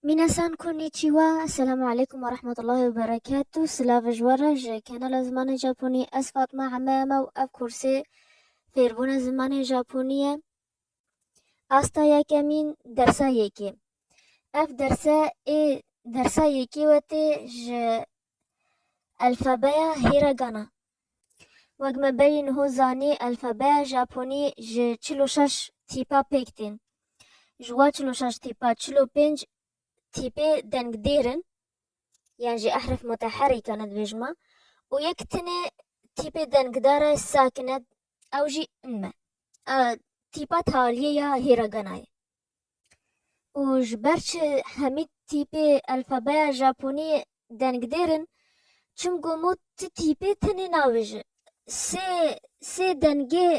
Minasan konnichiwa, Selamu aleykum ve rahmetullahi ve berekatu, silav ji we re ji kanala Zimanê Japonî, ez Fatma Eme me û ev kursê Fêrbûna Zimanê Japonî ye. Asta yekemîn dersa yekê. Ev derse ê dersa yekê we tê ji Alfabeya Hiragana Wek me berî niho zanî alfabeya Japonî ji çil û şeş tîpa pêk tên. Ji wan çil û şeş tîpa çil û pênc tîpê dengdêr in yan jî ehrif muteherîk ne dibêjima û yek tune tîpê dengdar e sakin e ew jî nme. Tîpa taliyê ya Hîraganayê. û ji ber çi hemî tîpê elfabeya Japoniyê dengdêr in, çimgo mo ti tîpê tenê nabêje. Sê sê dengê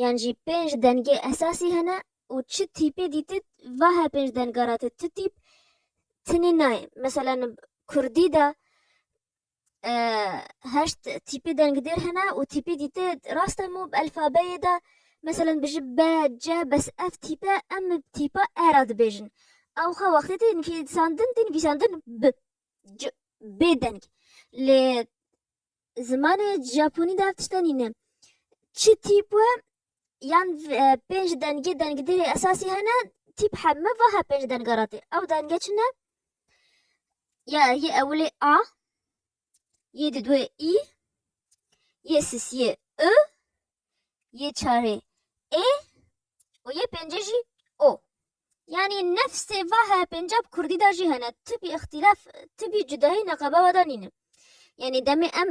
yan jî pênc dengê esasî hene û çi tîpê dîtit va he pênc denga ra ti ti tîp tenê nayê. Meselan, kurdî de heşt tîpê dengdêr hene û tîpê dîtê rast e mû bi elfabeyê de meselen bijî B, C bes ev tîpe em bi tîpa E re dibêjin. Ew xwe wextê tê nivîsandin tê nivîsandin bi C bê deng. Lê zimanê Japonî de ev tişt de nîne. Çi tîp we yan pênc dengê dengdêrê esasî hene tîp he me va he pênc denga ra tê ew denge çi ne ya yê ewilê a yê di duê î yê sisiyê i yê çarê ê û yê pêncê jî o yanî nefsê va he pêncab kurdî da jî hene tibî ixtîlaf tibî cudayî neqebewa da nîne yanî demê em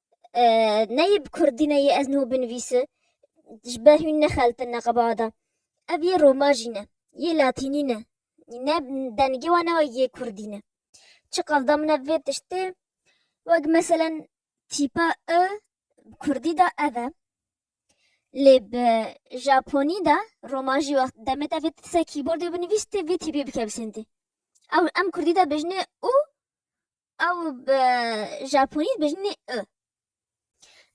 neyê bi kurdî neyê ez niho binivîsi ji ber hûn nexeltin neqeba de ev yê roma jî ne yê latînî ne ne dengê wan ne yê kurdî ne çi qevda min ev vê tiştê wek meselen tîpa i bi kurdî de ev e lê bi japonî de roma jî wext demê te vê ser kîbordê binivîstê vê tîpê bikevsintî ew em kurdî de bijnê û Ew bi japonî dibêjin ê ı.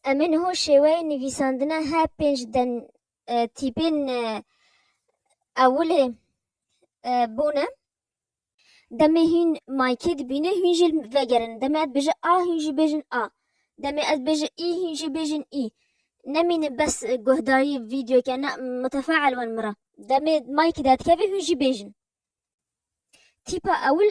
Em ê niho şêweyê nivîsandina he pênc den tîpên ewilê bûne. Demê hîn maykê dibîne hîn jî li vegerin. Demê ez dibêje a hîn jî bêjin a. Demê ez dibêje î hîn jî bêjin î. Nemîne bes guhdarî vîdeoyeke na mutefe'el wan min re. Demê maykê derdikeve hîn jî bêjin. Tîpa ewil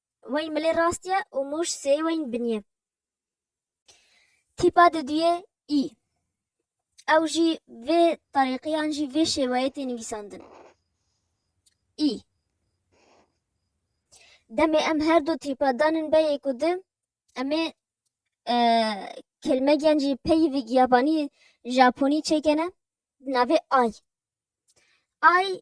Weyn milê rast ye û mûş sê weyn bin ye. Tîpa di duyê î. Ew jî vê terîqî yan jî vê şêweyê tê nivîsandin. Î. Demê em her du tîpa danin beyê ku di, em ê kelmegîyan jî peyivîg yabanî, japonî çêkene di navê ay. Ay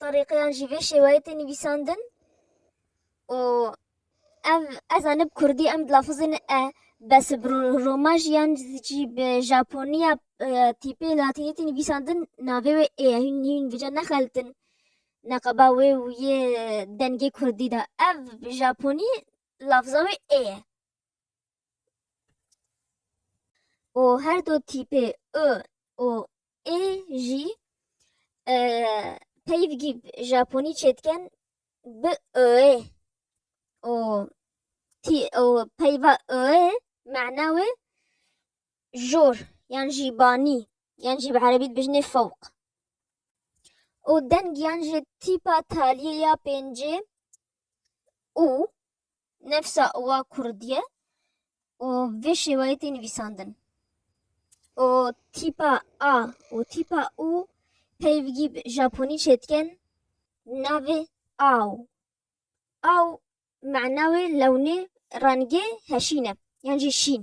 Tarîqiyan jî vê şêweyê tê nivîsandin û ev ez anî bi kurdî em dilafizîn e bes bi roma jî yan jî bi japoniya tîpê latînî tê nivîsandin navê wê ê ye hûn hûn vija nexelitin neqeba wê û yê dengê kurdî de ev bi japonî lafiza wê ê ye û her du tîpê i û ê jî e, peyvgî Japonî çêdiken bi öê û tî û peyva öê mana wê jor yan jî banî yan jî bi erebî dibêjinê fewq. û deng yan jî tîpa taliyê ya pêncê û nefsa wa kurdî ye û vê şêwayê tê nivîsandin. û tîpa a û tîpa û peyvgî bi Japonî çêdikin navê aw. Aw mena wê lewnê rengê heşîn e yan jî şîn.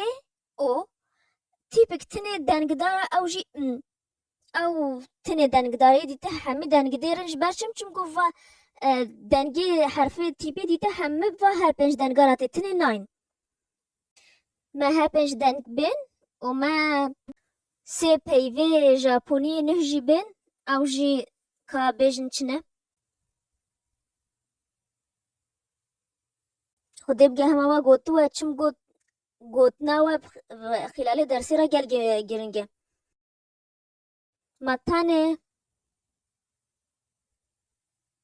ê, o, tîpik tinê dengdara ew jî n. Ew tinê dengdarê dîte hemî dengî dê rin ji ber çim çimku va dengê herfê tîpê dîte hemî va her pênc dengara tê tinê nayên. Me her pênc deng bên û me sê peyvê Japoniyê nuh jî bên ew jî ka bêjin çi ne. Xwedê bige hema we gotiwe çim got gotina we xîlalê dersê re gel giringe. Ma tenê